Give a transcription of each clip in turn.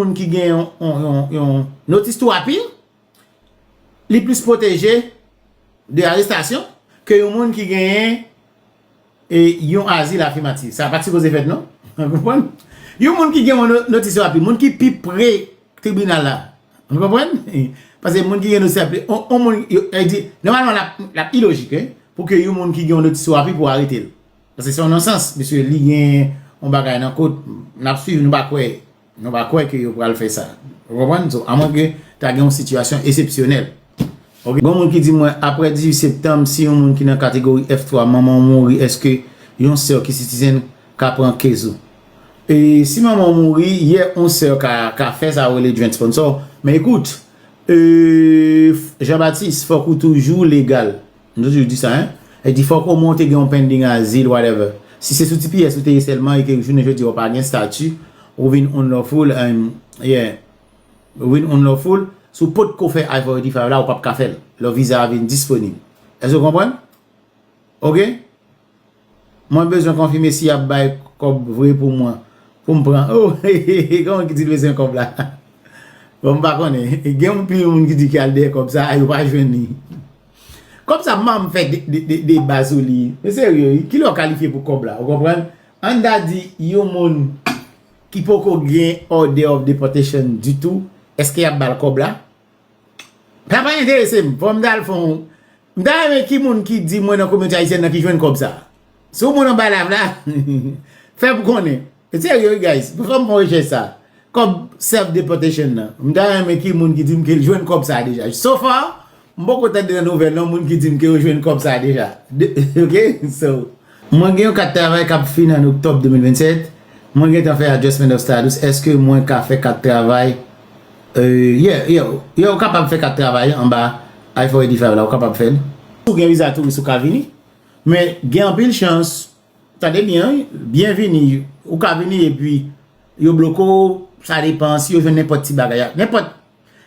moun ki gen yon notice to appear, li plis pwoteje de arestasyon ke yon moun ki gen yon azil afimatif. Sa pa sipoze fèt non. Yon moun ki gen yon notice to appear, moun ki pi pre tribunal la, nou konprann? Pase moun ki gen notice to appear, yon moun, e di, nòmalman l ap ilojik, pou ke yon moun ki gen yon notice to appear pou w arete l. Pase se yon nonsans, misye li gen yon bagay nan kot, n ap swiv nou pa kwè. Nou pa kwè ke yo pral fè sa. Ou konprann? So, a mwen ke ta gen yon sitiyasyon esepsyonèl. Ok. Gon moun ki di mwen, apre 18 septanm, si yon moun ki nan kategori F3, manman w mouri, èske yon sè w ki sitizen ka pran case ou? E, si manman w mouri, ye, yon sè ka, ka fè sa yo rele joint sponsor. Men ekout, ee, Jean Baptiste, fòk ou toujou legal. M toujou di sa hein. E di fòk omwen w te gen yon pending azil whatever. Si se sou tps ou te ye sèlman e ke jounen jodi a w pa gen stati, ou vin unlawful and yeah ou vin unlawful, si w potko fè I-485 la ou pap ka fè l lò viza a vin disponib. Èske w konprann? Ok. Mwen bezwen konfime si yap bay kob vre pou mwen pou m pran oh hehehe gen yon ki di l bezwen kob la bon m pa konnen gen yon pil moun ki di ki al dèyè kob sa yo pa jwenn li kob sa man m fè deba sou li m serye wi kilè w kalifye pou kob la ou konprann ann ta di yon moun ki poko gen order of deportation ditou eske yap ba l kob la Sa pa enterese m, fòm ta al fon, m ta renmen ki moun ki di mwen nan kominote ayisyèn nan ki jwenn kòb sa. Si w moun anba live la, fè m konnen. Serye wi guys, fè m fon rechèch sa. Kòb self deportation nan, m ta renmen ki moun ki di m ke l jwenn kòb sa deja. So far, m poko tande nan nouvèl yon moun ki di m ke yo jwenn kòb sa deja. Ok, so. Mwen gen yon kat travay k ap fini an oktòb 2027, mwen gentan fè adjustment of status èske mwen ka fè kat travay Yeah yeah yeah ou kapab fè kat travay an anba I-485 la ou kapab fè l. Si w gen viza touris ou ka vini men gen anpil chans tande byen wi byen vini ou ka vini epi yo bloke w sa depan si yo jwenn nenpòt ti bagay nenpòt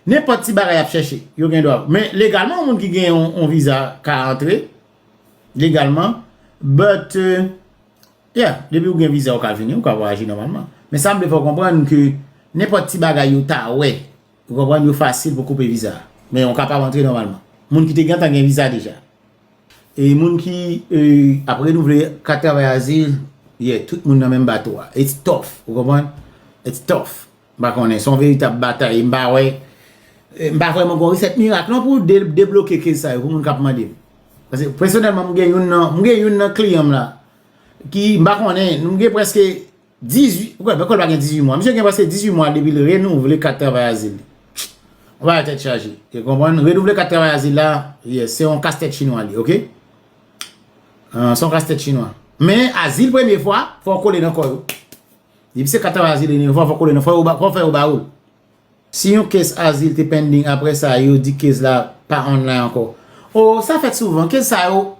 nenpòt ti bagay y ap chèche yo gen dwa men legalman yon moun ki gen yon viza ka antre Legalman, but, yeah, depi ou gen viza ou ka vini, ou ka vwayaje nòmalman. Men sa m vle fè w konprann ke nenpòt ti bagay yo ta wè, ou konprann, yo fasil pou koupe viza a. Men ou kapab antre nòmalman. Moun ki te gentan gen viza deja. E moun ki ap renouvle kat travay azil, yeah, tout moun nan menm bato a. It's tough, ou konprann? It's tough. M pa konnen, son veritab batay, m pa wè, m pa vrèman gon resèt mirak non pou debloke kez sa yo pou moun kap mande. Pase pèsonèlman m gen youn nan, m gen youn nan kliyan m la ki m pa konnen, nou gen preske 18, m kwè l pa gen 18 mwa, misye gen preske 18 mwa depi l renouvle kat travay azil li. Yon bagay tèt chaje, e konprann, renouvle kat travay azil la, yes, se yon kastèt chinwa li, ok. Se yon kastèt chinwa. Men azil premye fwa, fò w kole nan kò yo. Depi se kat an azil e nevan fòk ou lè nan fòk ou fè yo ba ou l. Si yon case azil te pending aprè sa yo di case la pa online ankò. Oh sa fèt souvan case sa yo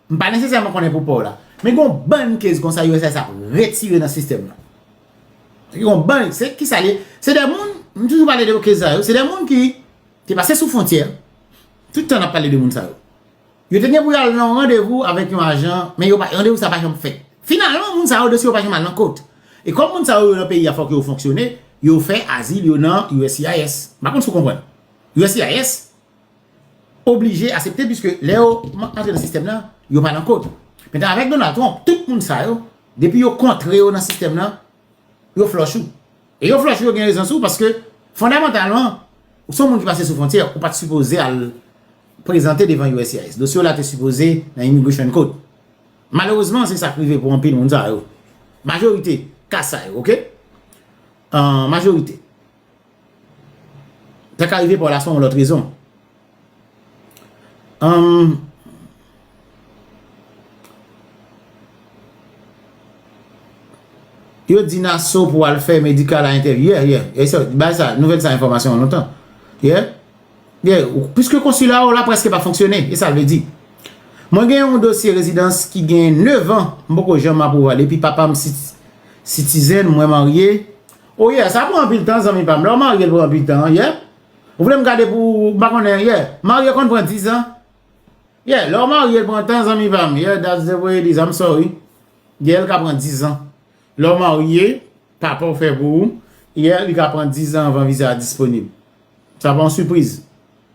m pa nesesèman konnen pou pa w la men gon bann case konsa uss ap retire nan sistèm nan. Gon bann se kisa li ye se de moun m toujou pale de case sa yo se de moun ki te pase sou fontyè tout tan n ap pale de moun sa yo. Yo te gen pou yo al nan yon randevou avèk yon ajan, men randevou sa pa janm fèt. Finalman, moun sa yo, dosye yo pa janm al nan kot. E kòm moun sa yo, yo nan peyi a, fòk yo fonksyone, yo fè azil yo nan uscis. M pa konn si w konprann. Uscis oblije asepte piske lè yo antre nan sistèm nan, yo pa nan kot. Mentan avèk Donald Trump, tout moun sa yo, depi yo kontre yo nan sistèm nan, yo flòch ou. E yo flòch ou yo gen rezon sou ou paske fondamantalman ou son moun ki pase sou fwontyè ou pat sipoze al prezante devan uscis. Dosye w la te sipoze nan Immigration Court. Malerezman se sa k rive pou anpil moun sa yo. Majorite ka sa yo ok. An majorite. Ta ka rive Paul a son yon lòt rezon. Yo di Nassau pou al fè medical a entèvyou. Yeah, yeah. E sa, bay sa, nouvèl sa enfòmasyon an lontan. Yeah. Yeah. Piske konsila ou la preske pa fonksyone. E sa l vle di. Mwen gen yon dosye rezidans ki gen 9 an. M poko janm apwouve l. Epi papa m sitizen, mwen marye. Oh yeah sa pran anpil tan zanmi pam lè ou marye li pran anpil tan yeah ou vlem gade pou m pa konnen yeah marye konn pran 10 ans yeah lè ou marye li pran tan zanmi pam yeah that's the way it is I'm sorry yeah li ka pran 10 ans lè ou marye papaw fè pou ou yeah li ka pran 10 ans avan viza a disponib sa pa yon sipriz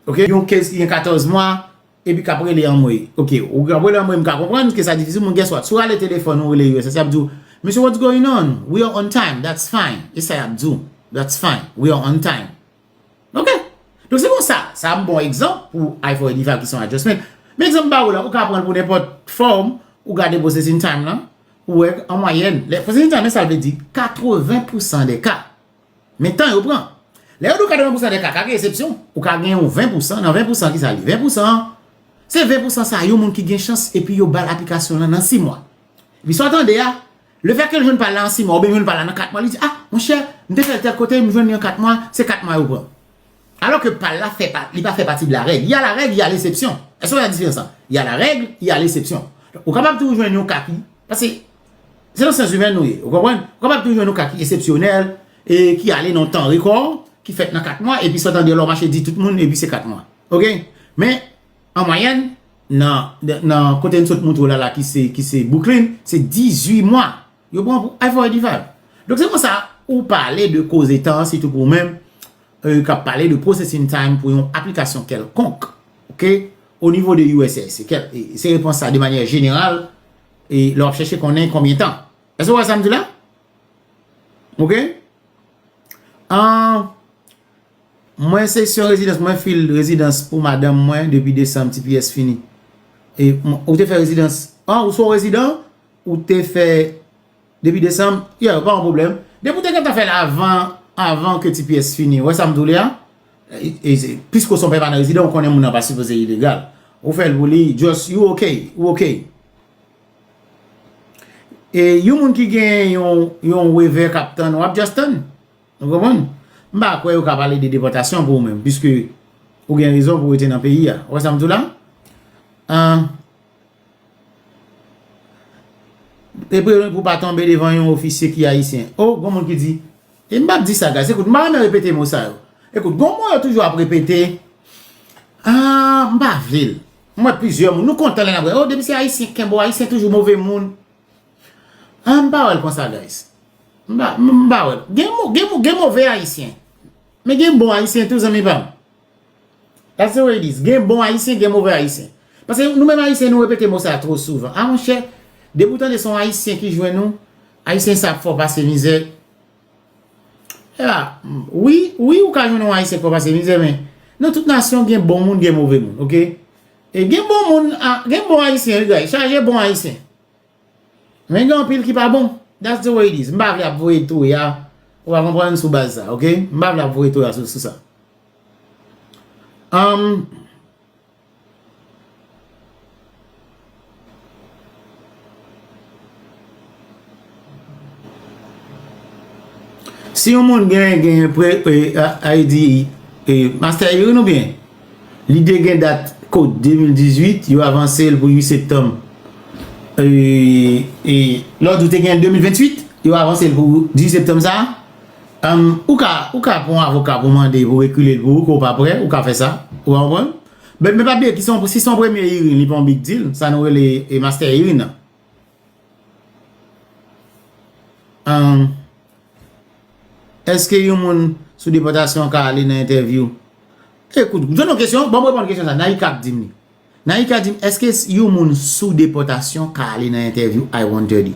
ok yon case ki gen 14 mwa. Epi kap rele anmwey. Ok ou kap rele anmwey m ka konprann ke sa difisil men guess what si w rale telefòn ou rele usa yap di w Mesye what's going on we are on time that's fine e sa yap di w that's fine we are on time ok donk se konsa sa a m bon egzanp pou I for eighty five ki se yon adjustment men egzanp m ba ou la ou ka pran l pou nenpòt fòm ou gade processing time lan pou w wè an mwayèn processing time lan sa l vle di 80 pousan de ka. Men tan yo pran. Lè yo di w 80 pousan de ka, ka gen esepsyon. Ou ka gen yon 20 pousan, nan 20 pousan ki sa li? 20 pousan an, se 20 pousan sa yon moun ki gen chans epi yo ba l aplikasyon lan nan 6 mwa. Epi sa w tande a, le fè ke l jwenn pa l lan an 6 mwa, oubyen l jwenn pa l lan an 4 mwa, li di, a, monchè, m te fè l tèl kote, m jwenn li an 4 mwa, se 4 mwa yo pran. Alò ke pa l la fè pa, li pa fè pati de la règ. Y a la règ, y a lesepsyon. Èske w wè diferans lan? Y a la règ, y a lesepsyon. Ou kapab tou jwenn yon ka ki, paske. Se nan syans imèn nou ye, ou konprann? Ou kapab toujou jwenn yon ka ki esepsyonèl, e ki ale nan yon tan rekò, ki fèt nan 4 mwa, epi sot andeyò la ou mache di tout moun, epi se 4 mwa. Ok? Men, an mwayèn, nan kote n sot montre w la la ki se Bwouklin, se 18 mwa. Yo pran pou F oy di fab. Donk se konsa, ou pale de koze tan, sitou pou ou menm, ou kab pale de processing time pou yon aplikasyon kèlkonk, ok, o nivo de uss. Se repons sa de manyè jeneral. e lè wap chèche konnen konbyen tan. Èske wè sa m di la? Ok? An, mwen se syon rezidans, mwen fil rezidans pou madanm mwen depi desanm tps fini. E, ou te fè rezidans, an, ou son rezidans, ou te fè. Depi desanm, yeah yo pa yon pwoblèm. Depi ou te gentan fèl avan avan ke tps fini, wè sam doule a? Piske ou son pèmanan rezidan, ou konnen moun nan pa sipoze ilegal. Ou fèl pou li, just you ok, ou ok. E yon moun ki gen yon yon wevè kap tann, wap just tann. Ou konprann? M pa kwè yo ka pale de depòtasyon pou ou menm, piske ou gen rezon pou rete nan peyi a. Wè sam di w la? An. E preveni pou w pa tonbe devan yon ofisye ki ayisyen. O, gon moun ki di, e m pa p di sa guys, ekout m pa renmen repete mo sa yo. Ekout, gon mo yo toujou ap repete, a, m pa vle l. M wè plizyè moun, nou kontan lè n ap gade, o, depi se ayisyen, kenbe w, ayisyen toujou move moun. A, m pa wè l konsa guys. M pa, m pa wè l. Gen move ayisyen. Men gen bon ayisyen tou zanmi pa m. That's the way it is. Gen bon Ayisyen, gen move Ayisyen. Pase nou menm Ayisyen nou repete mo sa two souvan. A monchè, depi ou tande se yon Ayisyen ki jwenn ou, Ayisyen sa ap fè w pase mizè. Epa, wi, wi ou ka jwenn yon Ayisyen k fè w pase mizè men, nan tout nasyon gen bon moun, gen move moun, ok? E gen bon moun, gen bon Ayisyen wi guys, chaje bon Ayisyen. Men gen anpil ki pa bon. That's the way it is. M pa vle ap voye toya, ou pa konprann, sou baz sa, ok? M pa vle ap voye toya sou sa. Anm. Si yon moun gen, gen, pre, e, ID, e, Master Irene ou byen? Lide gen dat kod 2018, yo avanse l pou 8 septanm. E lòt ou te gen 2028, yo avanse l pou 18 septanm sa a. Ou ka, ou ka pran yon avoka pou mande pou rekile l pou ou ke w pa prè, ou ka fè sa. Ou konprann? Men pa bliye ki se yon, si se yon premye hearing, li pa yon big deal, sa nou rele master hearing nan. Eske yon moun sou depòtasyon ka ale nan entèvyou? Ekout, jwenn yon kesyon, banm reponn kesyon sa, Naïka ap dim li. Naïka dim, eske yon moun sou depòtasyon ka ale nan entèvyou I wonder li?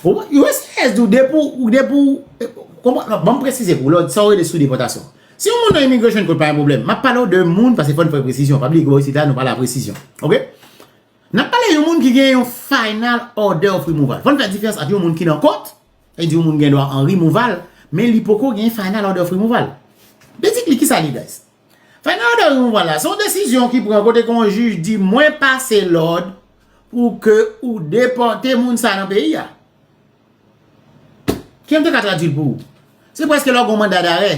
Ou wè sa yès di ou, depi ou, depi ou, konprann, non, banm presize pou ou, lè ou di sa ou rele sou depòtasyon. Si yon moun nan immigration court pa yon pwoblèm, map pale ou de moun, paske fòn fè presizyon, pa bliye ke bò isit la nou pale a presizyon. Ok? N ap pale yon moun ki gen yon final order of removal. Fò n fè difirans ant yon moun ki nan kòt, sa vle di yon moun gen dwa an removal, men li poko gen final order of removal. Basically, kisa l ye guys? Final order of removal la, se yon desizyon ki pran kote ke yon jij di mwen pase lòd pou ke ou depòte moun sa nan peyi a. Kijan m te ka tradui l pou ou? Se prèske lè w gen yon manda darè,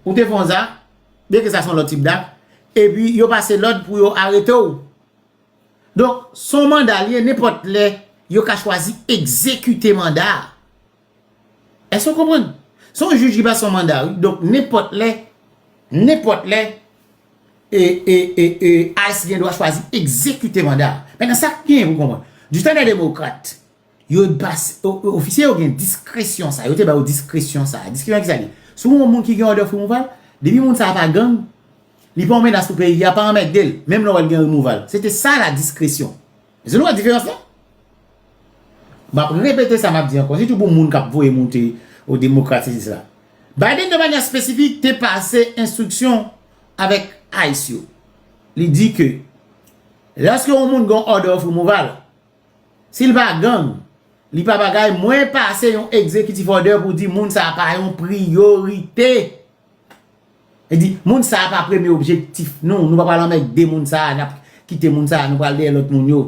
ou te fè yon zak, byen ke sa son lòt tip dak, epi yo pase lòd pou yo arete w. Donk, son manda li ye, nenpòt lè, yo ka chwazi egzekite manda a. Èske ou konprann? Son jij ki pase yon manda wi, donk nenpòt lè, nenpòt lè, e, e, e, e, ICE gen dwa chwazi egzekite manda a. Mètnan sa k gen pou konprann, di tan dè demokrat, Yo bas, ofisye yo gen diskresyon sa, yo te ba yo diskresyon sa. Diskresyon ki sa li? Si w gen yon moun ki gen òdè frimouval, depi moun sa a pa gang, li pa yon menas pou peyi a, pa anmègde l, menm lè w wè l gen remouval. Se te sa la diskresyon. Èske nou wè diferans lan? M ap repete sa m ap di ankò, sitou pou moun k ap voye moute ou demokrat sesi sela. Biden de manyè espesifik te pase enstriksyon avèk ice yo. Li di ke lèske yon moun gen yon òdè frimouval, Sil pa gang Li pa bagay mwen pase yon executive order pou di moun sa pa yon priyorite e di moun sa pa premye objektif nou nou pa pral anmègde moun sa nap kite moun sa nou pral dèyè lòt moun yo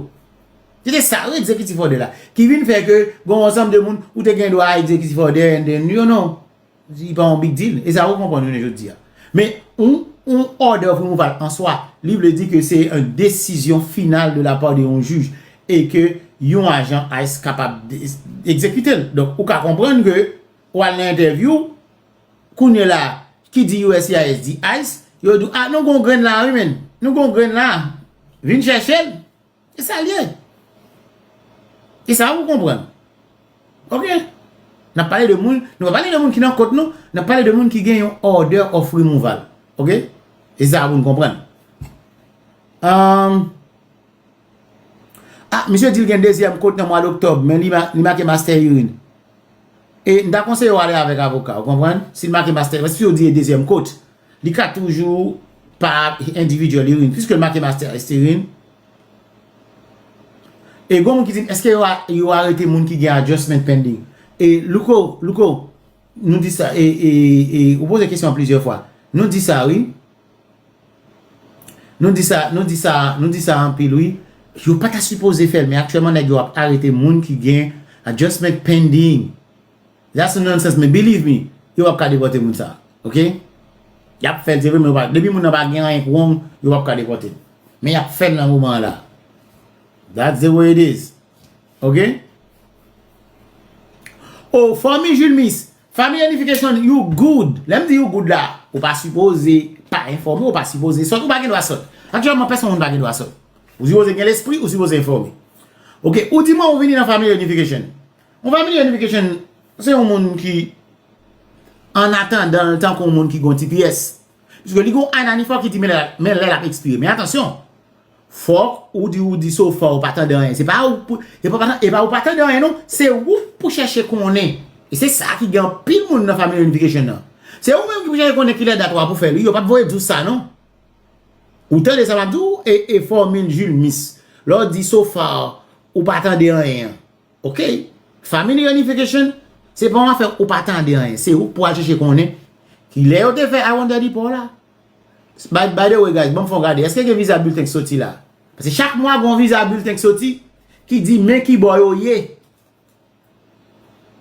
se te sa wi executive order la ki vin fè ke gon ansanm de moun ou te gen dwa executive order and then you know. Li pa yon big deal. E sa yo konprann jounen jodi a. Men, yon order of removal an swa, li vle di ke se yon desizyon final de la part de yon jij e ke yon ajan ice kapab ekzekite l. Donk, ou ka konprann ke ou al nan entèvyou, kounye la, ki di uscis di ice, yo di w, a, nou gen yon grenn la wi menn. Nou gen yon grenn la. Vin chèche l. E sa l ye. E sa ou konprann. Ok. N ap pale de moun, nou pa pale de moun ki nan kot nou, n ap pale de moun ki gen yon order of removal. Ok. E sa pou n konprann. Ahm. Ah, misye di l gen dezyèm kot nan mwa doktòb, men li make master irin. E m ta konseye w ale avèk avoka, ou konprann? Si l make master, paske si yo di e dezyèm kot, Li ka toujou pa individual li rin. Piske l make master est se rin. E gon moun ki di m eske yo arete moun ki gen adjustment pending. E Louko, Louko, nou di sa e ou poze kesyon plizyè fwa. Nou di sa wi. Nou di sa, nou di sa, nou di sa anpil wi. Yo pa ta sipoze fè l men aktyèman nèg yo ap arete moun ki gen adjustment pending. That's a nonsense men believe me yo pap ka depote moun sa ok yap fèl se vre men yo pa depi moun nan pa gen anyen k wrong yo pap ka depotel men yap fèl nan moman an la that's the way it is ok oh fanmi julmis fanmi unification you good lèm di you good la ou pa sipoze pa enfòme ou pa sipoze sòt ou pa gen dwa sòt aktyèlman pèsonn moun pa gen dwa sòt ou sipoze gen lespri ou sipoze enfòme ok ou di mwen ou vini nan fanmi unification. Yon family unification se yon moun ki an atandan l tankou yon moun ki gen yon tps. Piske li gen yon ananifò ki di men lè l ap ekspire. Men atansyon, fòk ou di ou di so fò ou pa tande anyen. Se pa ou pou, e pa tande, e pa ou pa tande anyen non. Se ou pou chèche konnen. E se sa ki gen anpil moun nan family unification nan. Se ou menm ki pou chèche konnen ki lè dat ou a pou fè l. Wi, yo pa p voye di w sa non. Ou tande sa m ap di w? E, e fòmil Jules Mis. Lè w di so far ou pa tande anyen an. Ok family reunification se pa yon afè ou pa tande anyen se ou ki pou al chèche konnen kilè yo te fè I wonder di pa w la By the way guys banm fon gade èske gen visa bulten ki soti la paske chak mwa gon visa bulten ki soti ki di men kibò yo ye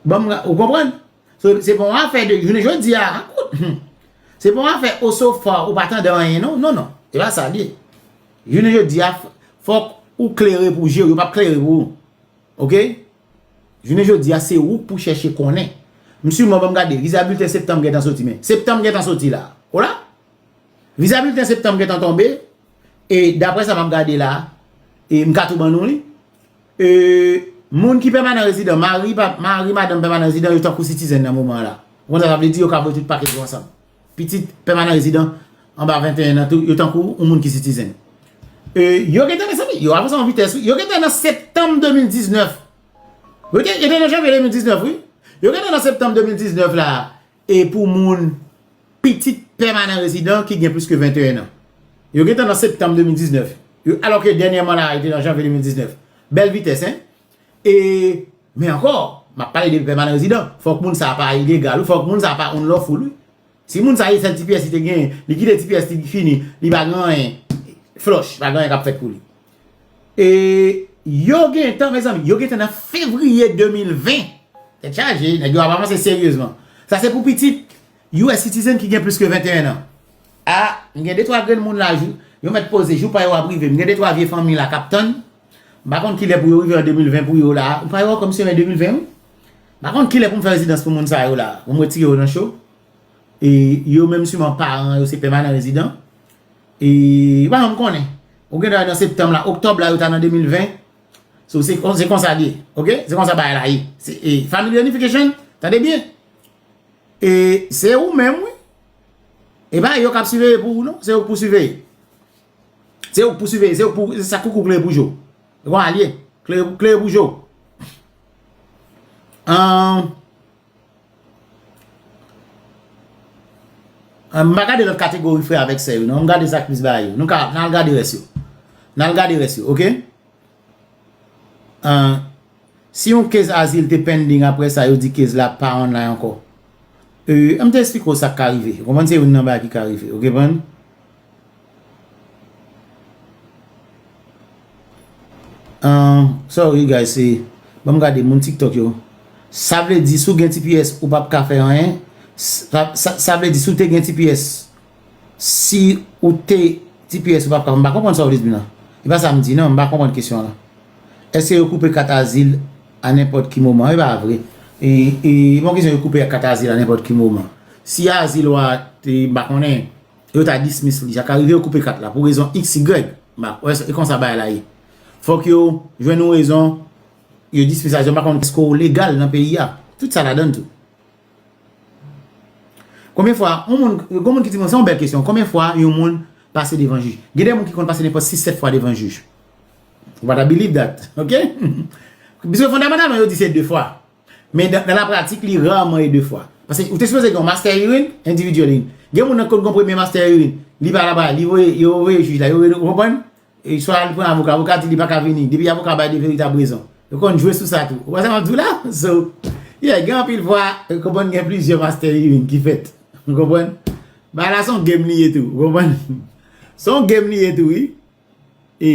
banm ou konprann se pa yon afè de jounen jodi a se pa yon afè o so far ou pa tande anyen non non non se pa sa l ye jounen jodi a fòk ou klere pou je w yo pap klere pou ou Ok Jounen jodi a se ou pou chèche konnen M siman banm gade viza bilten septanm gentan soti men Septanm gentan soti la Hola Viza bilten septanm gentan tonbe e daprè sa map gade la e m ka tou ban nou li e moun ki pèmanan rezidan mari madanm pèmanan rezidan yo tankou sitizen nan moman an la Ou konn sa sa vle di yo ka voye tout pakèt yo ansanm. Pitit pèmanan rezidan anba 21 an tou yo tankou yon moun ki sitizen. E yo gentan mezanmi, yo avanse an vitès wi. Yo gentan nan septanm 2019. Yo te nan janvye 2019 wi. Yo gentan nan septanm 2019 la e pou moun pitit pèmanan rezidan ki gen plis ke 21 an. Yo gentan nan septanm 2019. Alò ke dènyèman la yo te nan janvye 2019. Bèl vitès hein. E Men ankò, m ap pale de pèmanan rezidan, fòk moun sa a pa ilegal wi, fòk moun sa a pa unlawful wi. Si moun sa a se sèl ti pyès li te genyen, li kite ti pyès li li fini, li pa gen anyen, flush, pa gen anyen k ap fèt pou li. E yo gen tan mezanmi, yo gen tan nan fevriye 2020, tèt chaje, nèg yo ap avanse seryezman. Sa se pou pitit US citizen ki gen plis ke 21 an. A, m gen de twa grenn moun la jou, yo mèt poze, jou pa yo ap rive, m gen de twa vye fanmi la k ap tann. M pa konn kilè pou yo rive an 2020 pou yo la a. Ou pa wè yo kòm se mè 2020 wi. M pa konn kilè pou m fè rezidans pou moun sa yo la a. Pou m retire yo nan cho. E yo menm siman paran yo se pèmanan rezidan. E ou pa janm konnen. Ou gen dwa nan septanm la. Oktòb la yo ta nan 2020. So se konsa li ye. Ok? Se konsa bagay la ye. E family unification. Tande byen. E se ou menm wi. E pa yo k ap siveye pou ou non. Se ou k pou siveye. Se ou k pou siveye, se ou k pou, se sa koukou klere pou jo. Se konsa l ye, klere pou jo. An, m pa gade lòt kategori frè avèk sè yo non, m gade sa k plis ba yo. Nou ka, nan al gade rès yo. Nan al gade rès yo, ok? Ahh si yon case azil te pending aprè sa yo di case la pa online ankò euh anm te esplike w sak ka rive ou konprann se youn nan bagay ki ka rive ou knprann. Ahh sorry guys se banm gade moun tiktok yo sa vle di si w gen tps ou pap ka fè anyen sa vle di si w te gen tps Si ou te tps ou pap ka, m pa konprann sa ou vle di m nan. E pa sa m di nan, m pa konprann kesyon an lan. Eske yo koupe kat azil a nenpòt ki moman? E pa vre. E pa yon kesyon yo koupe kat azil a nenpòt ki moman. Si azil ou a te, m pa konnen, yo ta dismiss li. Sa ka rive yo koupe kat la pou rezon XY. M pa kwè se konsa bagay la ye. Fòk yo jwenn yon rezon, yo dismiss azil ou. M pa konnen eske ou legal nan peyi a. Tout sa ladann tou. Konbyen fwa yon moun, gon moun ki di mwen, se yon bèl kesyon, konbyen fwa yon moun pase devan jij? Gen de moun ki konn pase nenpòt 6, 7 fwa devan jij. You gotta believe that, ok? Biske fondamantalman yo di se 2 fwa. Men nan la pratik li rarman e 2 fwa. Paske ou te sipoze gen yon master hearing, individual hearing. Gen moun nan ki konn gen yon premye master hearing, li pa la ba, li voye, yo voye jij la, yo voye, ou konprann? E swa li pran avoka, avoka di li paka vini, depi avoka bay de veritab rezon. Yo konn jwe sou sa tou. Ou konprann sa map di w la? So, yeah, gen anpil fwa, ou konprann gen plizyè master hearing ki fèt. Ou konprann? Bagay la son game li ye tou. Ou konprann? Son game li ye tou wi. E,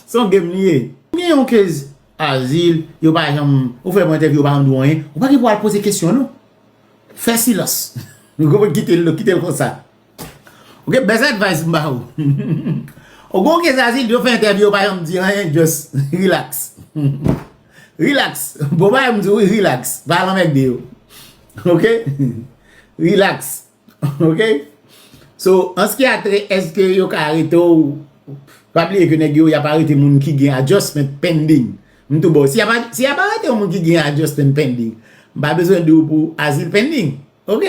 son game li ye. Ou gen yon case azil, yo pa janm, ou fè yon entèvyou yo pa janm di w anyen, ou pa gen pou al poze kesyon non. Fè silans. Ou konprann? Kite l, kite l konsa. Ok best advice m ba ou. Ou gon ke zazi yo fè entèvyou yo pa janm di anyen just relax. Relax bon bagay m di w relax pa al anmègde yo ok relax ok so ans ki atre eske yo ka arete w pa bliye ke nèg yo y ap arete moun ki gen adjustment pending m tou ba w si y ap arete yon moun ki gen adjustment pending m pa bezwen di w pou azil pending Ok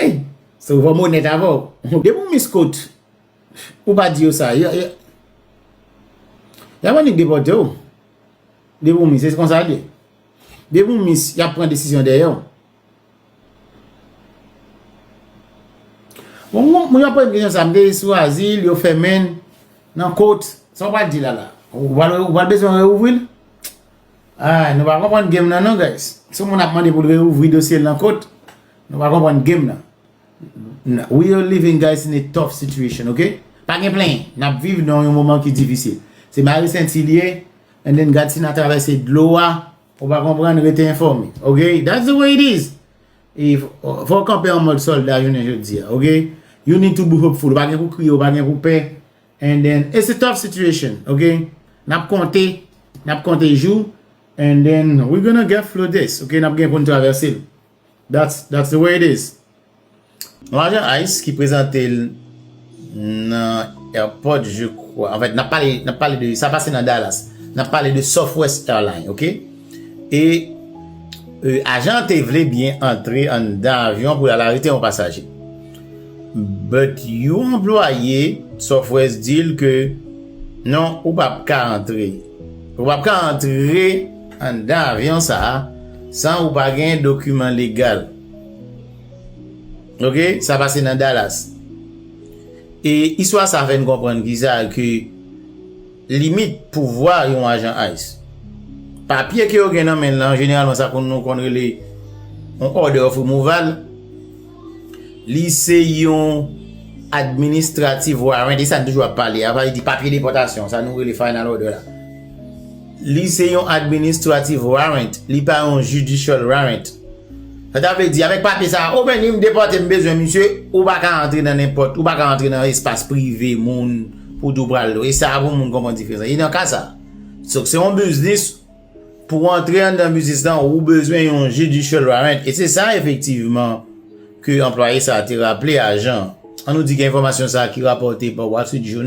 So fòm onèt avè w Depi ou miskout Ou pa di yo sa Yo Yap annik depòte w Depi ou mis Se konsa l ye Depi ou mis Yap pran desizyon dèyè w Bon moun Mwen ap poze m kesyon sa M te sou azil Yo fèmen Nan kot Sa w pral di la la Ou pral bezwen reouvri l Ahh nou pa konprann game nan non guys si yon moun ap mande poul reouvri dosyel nan kot nou pa konprann game nan we are living guys in a tough situation ok pa gen plenyen nap viv nan yon moman ki difisil se mare senti li ye and then gad si na travèse dlo a ou pa konprann rete enfòme ok that's the way it is fòw kanpe an mòd sòlda jounen jodi ok you need to be hopeful ou pa gen pou kriye ou pa gen pou pè And then, it's a tough situation, ok? Nap konte, nap konte jou, and then we're gonna get through this, ok? Nap gen pou n travèse l. That's, that's the way it is. Nou ajan ice ki prezante l nan airport je kwa. Anfèt, nap pale, nap pale de, sa pase nan Dallas. Nap pale de Southwest Airline, ok? E, ajan te vle byen antre anndan avyon pou l al arete yon pasaje. But yon anplwaye Sofres di l ke non ou pa p ka antre. Ou pa p ka antre anndan avyon sa a san ou pa gen dokiman legal. Ok, sa pase nan Dallas. E istwa sa fè n konprann kisa ke. Limit pouvwa yon ajan ice. Papye ke yo gen nan men lan, jeneralman sa konn nou konn rele yon order of removal, li se yon administrative warrant, e sa n toujou ap pale a, sa vle di papye depòtasyon, sa nou rele final order la. Li se yon administrative warrant, li pa yon judicial warrant. Sa ta vle di, avèk papye sa a, o men ni m depòte m bezwen misye, ou pa ka antre nan nenpòt, ou pa ka antre nan espas prive moun. Ou tou pral lwe sa pou moun konprann diferans lan. E nan ka sa, so se yon biznis, pou antre anndan biznis lan ou bezwen yon judicial warrant e se sa efektivman ke anplwaye sa te raple ajan an. An nou di gen enfòmasyon sa ki rapòte pa Wall Street Journal.